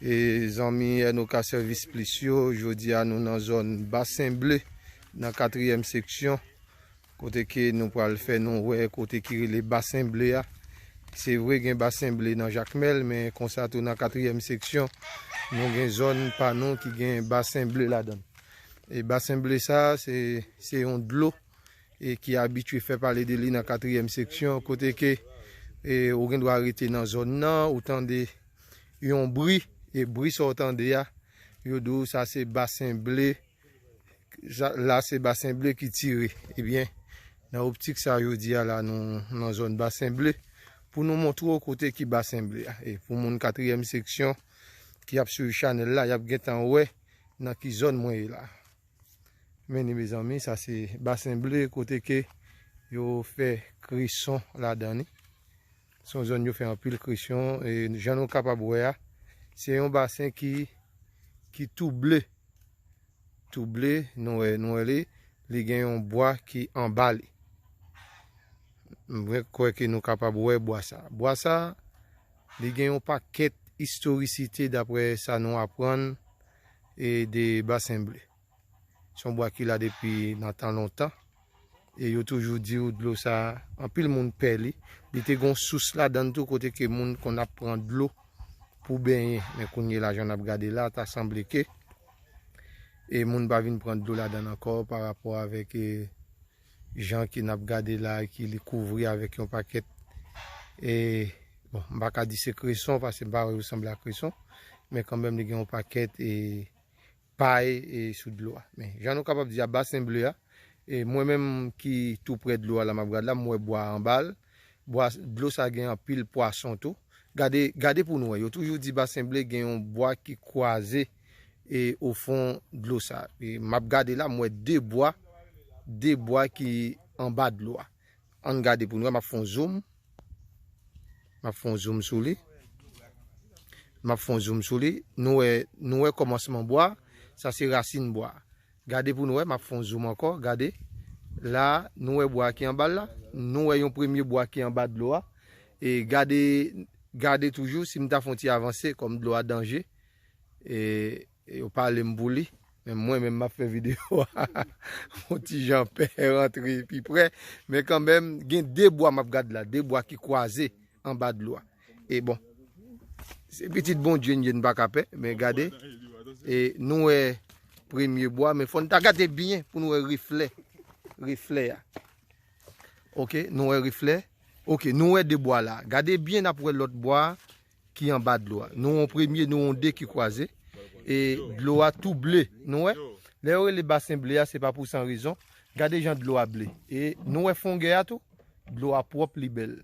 E zanmi Enoka Sèvis Plis yo, jodi a nou nan zòn Basen Ble, nan katriyèm seksyon, kote ke nou pral fè nou wè kote ki rele Basen Ble a. Se vre gen Basen Ble nan Jakmèl, men konsa tou nan katriyèm seksyon, nou gen zòn pa nou ki gen Basen Ble ladan. E Basen Ble sa, se yon dlo. e ki abitye fè pale de li nan katriyèm seksyon, kote ke ou gen dwa rete nan zòn nan, ou tande yon bri, e bri sa ou tande a, yo di ou sa se basen ble, la se basen ble ki tire, e byen, nan optik sa yo di a la nou nan zòn basen ble, pou nou montre ou kote ki basen ble a, e pou moun katriyèm seksyon ki ap swiv chanèl la, y ap gen tan wè nan ki zòn mwen ye la. Meni mezanmi sa se basen ble kote ke yo fè krison ladan li. Son zòn yo fè anpil krison e jan nou kapab wè a se yon basen ki ki tou ble. Tou ble nou wè nou wè li li gen yon bwa ki anba li. Mwen kwè ke nou kapab wè bwa sa. Bwa sa li gen yon pakèt istorisite daprè sa nou aprann e de basen ble. Se yon bwa ki la depi nan tan lontan. E yo toujou di ou dlo sa, anpil moun pè li. Li te gon sous la dan tou kote ke moun konn ap pran dlo pou benyen. Men kounye la jan ap gade la, ta sanble ke e moun pa vin pran dlo la dan ankò pa rapò avèk e. Jan ke nap gade la ki li kouvri avèk yon pakèt e bon m pa ka di se kreson paske m pa wè yo sanble a kreson men kanmenm li gen yon pakèt e pay e sou dlo a men jan nou kapab di a basen ble a e mwen menm ki tou prè dlo a la map gad la m wè bwa anba l bwa dlo sa gen anpil pwason tou gade gade pou nou wè yo toujou di basen ble gen yon bwa ki kwaze e o fon dlo sa. E map gade la m wè 2 bwa, 2 bwa ki anba dlo a. Ann gade pou nou wè, map fon zoom. Map fon zoom sou li. Map fon zoom sou li. Nou wè, nou wè kòmansman bwa, sa se rasin bwa. Gade pou nou wè, map fon zoom ankò, gade. La, nou wè bwa ki anba la. Nou wè yon premye bwa ki anba dlo a. E gade, gade toujou, si m ta fon ti avanse, kòm dlo a danje, E yo pale m pou li. Men mwen menm map fè video a. Yon ti jan pè rantre pi pre. Men kan menm gen 2 bwa map gad la. 2 bwa ki kwaze anba dlo a. E bon. Se pitit Bondye n ye n pa ka pè. Men gade. E nou e premye bwa. Men fon ta gade byen pou nou e refle. Refle a. Ok. Nou e refle. Ok. Nou e 2 bwa la. Gade byen nap we lot bwa a. ki anba dlo a. Nou wè yon premye, nou wè yon de ki kwaze. E dlo a tou ble. Nou wè? Lè yo rele basen ble a, se pa pou san rezon. Gade jan dlo a ble. E nou wè fongè a tou? Dlo a pwòp, li bèl.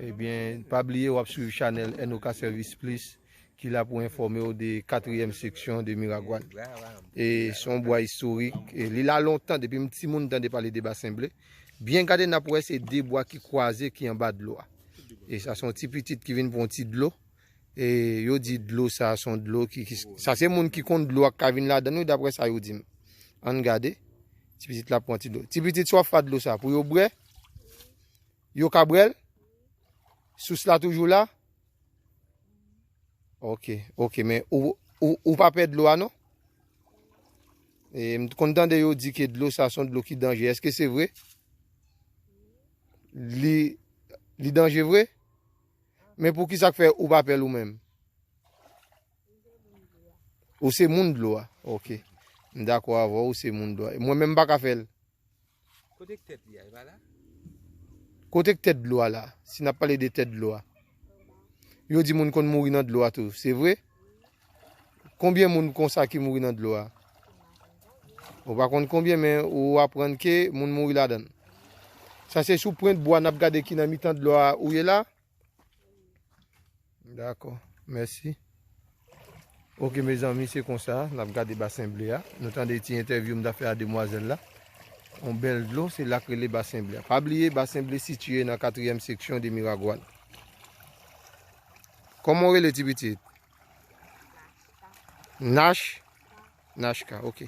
Ebyen, pa bliye w ap swiv chanèl NOK Service Plus ki la pou enfòme w de katriyèm seksyon de Miragwàn. E se yon bwa istorik. Li la lontan, depi m timoun m tande pale de basen ble. Byen gade n ap wè se de bwa ki kwaze ki anba dlo a. E sa se yon ti pitit ki vin pran yon ti dlo. E yo di dlo sa se yon dlo ki... Sa se moun ki konn dlo a ki ka vin ladan l wi daprè sa yo di m. An n gade. Ti pitit la ap pran ti dlo. Ti pitit sa w ap fè ak dlo sa pou yo bwè? Yo ka bwè l? Sous la toujou la? Ok, ok, men ou pa pè dlo a non? E m kon tande yo di ke dlo sa son dlo ki danje, eske se vre? Li danje vre? Men pou ki sa k fè ou pa pè l ou menm? Ou se moun dlo a? Ok, m dakò avè w, ou se moun dlo a. Mwen menm m pa ka fè l? Kote k tèt li a? Li pa la? Kote k tèt dlo a la? Si n ap pale de tèt dlo a. Yo di moun konn mouri nan dlo a tou. Se vre? Konbyen moun konsa ki mouri nan dlo a? Ou pa konn konbyen men ou aprann ke moun mouri ladan l. Sa se sou pwent bwa n ap gade ki nan mitan dlo a ou ye la. Dako, mèsi. Ok mezanmi se konsa n ap gade basen ble a. Nou tande ti entèvyou m ta fè a demwazèl la. On bèl dlo, se la k rele basen ble a. Pa bliye basen ble sitiye nan katriyèm seksyon de Miragwàn. Kòman w rele ti pitit? Nachka. Nachka, ok.